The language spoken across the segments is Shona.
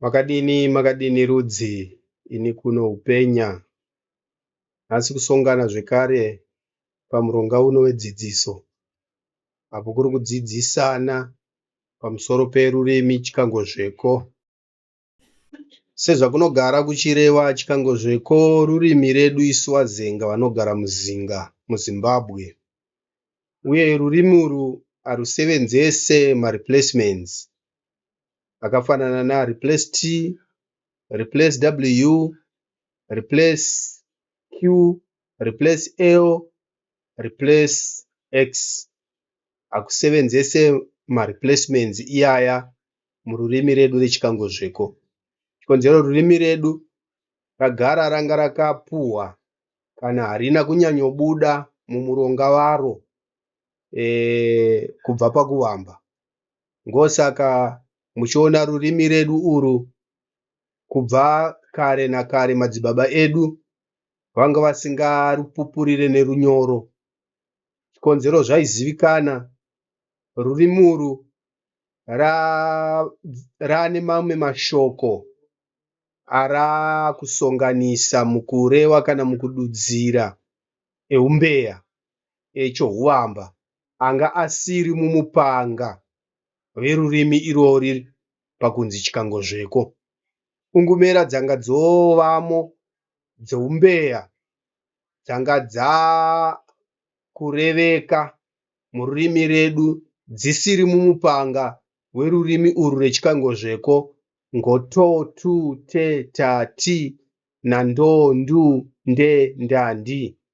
Makadini makadini rudzi ini kuno hupenya nhasi kusongana zvekare pamuronga uno wedzidziso apo kuri kudzidzisana pamusoro perurimi chikangozveko. Sezvakunogara kuchirewa chikangozveko rurimi redu isu Wazenga vanogara muZinga muZimbabwe uye rurimi urwu harusevenzese mareplacements akafanana na replace t replace w replace q replace l replace x hakusevenzese mareplacements iyaya mururimi redu rechikangozviko chikonzero rurimi redu ragara ranga rakapuhwa kana harina kunyanyobuda mumuronga waro e, kubva pakuvamba Ngosaka muchiona rurimi redu uru kubva kare nakare madzibaba edu vanga vasingarupupurire nerunyoro. Chikonzero zvaizivikana, rurimi uru rane mamwe mashoko arakusonganisa mukureva kana mukududzira eumbeya echohuvamba. anga asiri mumupanga verurimi irori pakunzi chikangozveko. Pfungumera dzanga dzovamo dzoumbeya dzanga dzakureveka mururimi redu dzisiri mumupanga werurimi urwu rwechikangozveko ngo to, tu, te, ta, ti, na, ndo, ndu, nde, nda, ndi.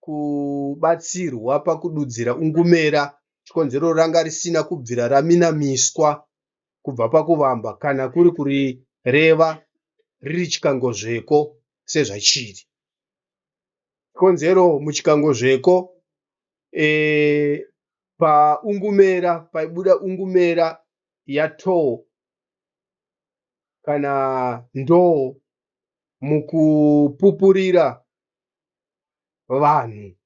kubatsirwa pakududzira ungumera chikonzero ranga risina kubvira raminamiswa kubva pakuvamba kana kuri kurireva riri chikangozveko sezvachiri chikonzero muchikangozveko e, paungumera paibuda ungumera yatoo kana ndoo mukupupurira vanhu.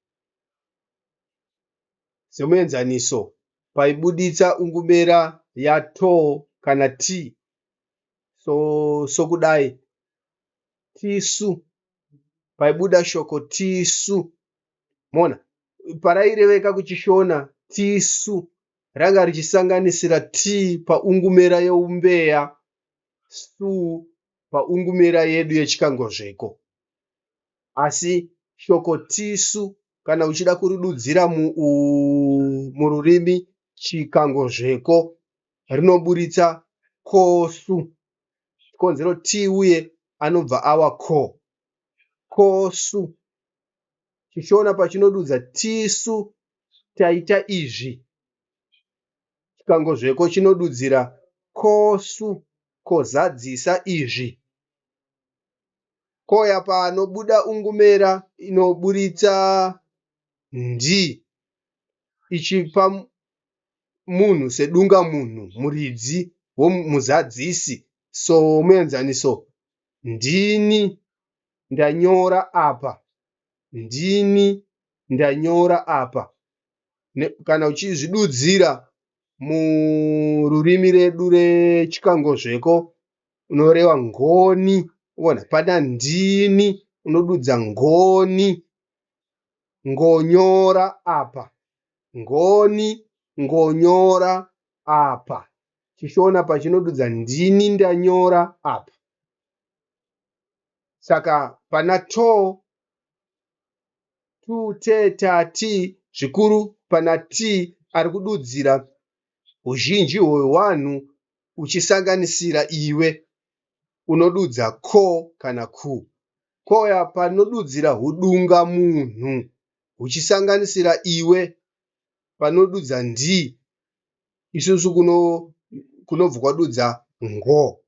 Semuenzaniso, paibuditsa ungumera ya to kana ti sokudai, tisu. Paibuda shoko tisu. Moona? Paraireveka kuChiShona tisu ranga richisanganisira ti paungumera yeumbeya, su paungumera yedu yechikangozveko. asi shoko tisu kana uchida kuridudzira mururimi chikangozveko rinoburitsa ko su chikonzero ti uye anobva awa ko ko su. ChiShona pachinodudza tisu taita izvi chikangozveko chinodudzira ko su kozadzisa izvi. koya panobuda ungumera inoburitsa ndi ichipa munhu sedungamunhu muridzi womuzadzisi. Somuenzaniso, Ndini ndanyora apa. Ndini ndanyora apa. Kana uchizvidudzira mururimi redu rechikangozveko unoreva ngoni uona pana ndini unodudza ngoni ngonyora apa ngoni ngonyora apa chishona pachinodudza ndini ndanyora apa saka pana to tu te ta ti zvikuru pana ti ari kududzira huzhinji hwewanhu uchisanganisira iwe unodudza ko kana ku. Ko apa rinodudzira hudungamunhu huchisanganisira iwe panodudza ndi. Isusu kuno kunobva kwadudza ngo.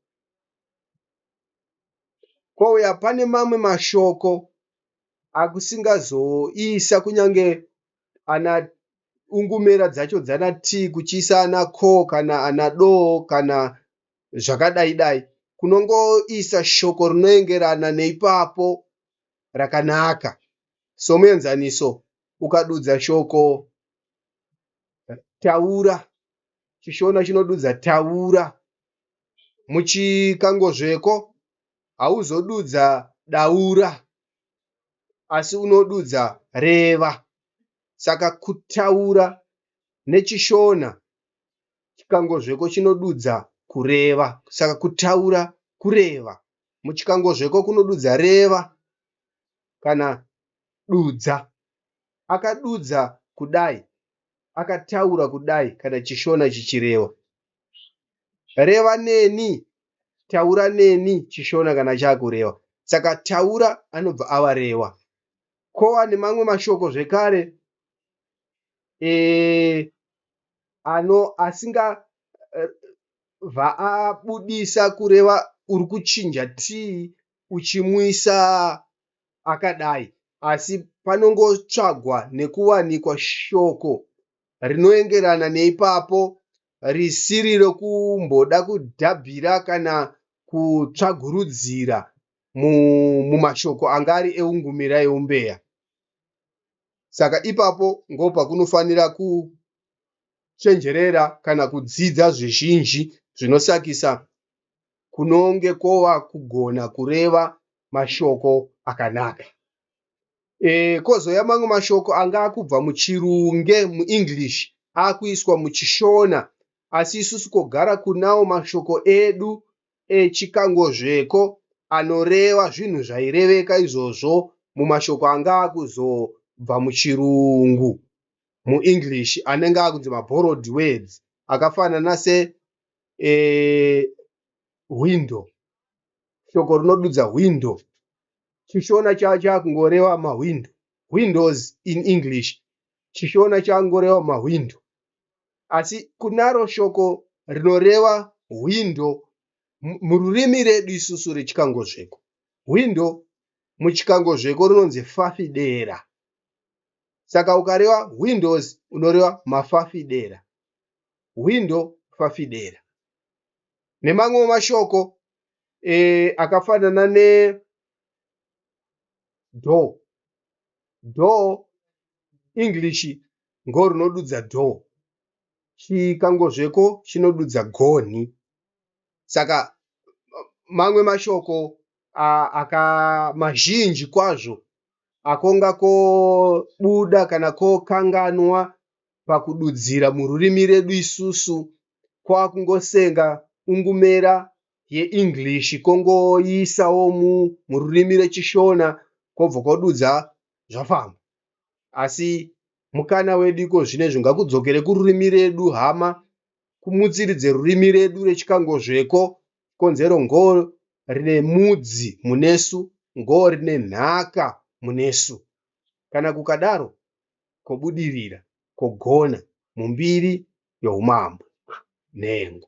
Ko uya pane mamwe mashoko akusingazoisa kunyange ana ungumera dzacho dzana tii kuchiisa ana ko kana ana do kana zvakadai dai kunongoisa shoko rinoengerana neipapo rakanaka. Somuenzaniso, ukadudza shoko taura, chiShona chinodudza taura. Muchikangozveko hauzodudza daura asi unodudza reva. saka kutaura neChishona chikangozveko chinodudza kureva saka kutaura kureva. Muchikangozveko kunodudza reva kana dudza. Akadudza kudai, akataura kudai kana Chishona chichireva. Reva neni, taura neni Chishona kana chaakureva. Saka taura anobva ava reva. Ko ane mamwe mashoko zvekare e, ano asinga eh, vaabudisa kureva uri kuchinja tii uchimuisa akadai asi panongotsvagwa nekuwanikwa shoko rinoengerana neipapo risiri rokumboda kudhabhira kana kutsvagurudzira mumashoko anga ari eungumira eumbeya saka ipapo ngo pakunofanira kuchenjerera kana kudzidza zvizhinji zvinosakisa kunonge kova kugona kureva mashoko akanaka e, kozouya mamwe mashoko anga akubva muchirunge muenglish akuiswa muchishona asi isusu kogara kunawo mashoko edu E Chikangozveko anoreva zvinhu zvaireveka izvozvo mumashoko anga akuzobva muchirungu, muEnglish, anenge akunzi maborrowed words akafanana se e hwindo. Shoko rinodudza hwindo Chishona chakungoreva mahwindo, windows in English. Chishona chakungoreva mahwindo asi kunaro shoko rinoreva hwindo mururimi redu isusu rechikangozveko. Hwindo muchikangozveko rinonzi fafidera. Saka ukareva windows unoreva mafafidera. Hwindo fafidera. Nemamwe mashoko e, akafanana ne do do English ngo rinodudza dho. Chikangozveko chinodudza gonhi. Saka mamwe mashoko aka mazhinji kwazvo akonga kobuda kana kokanganwa pakududzira mururimi redu isusu kwakungosenga ungumera yeEnglish kongoiisawo mururimi reChiShona kobva kodudza zvafamba. asi mukana wedu iko zvino izvo ngakudzokere kururimi redu hama kumutsiridze rurimi redu rechikangozveko konzero ngo rine mudzi munesu ngo rine nhaka munesu kana kukadaro kobudirira kogona mumbiri youmambo nhengo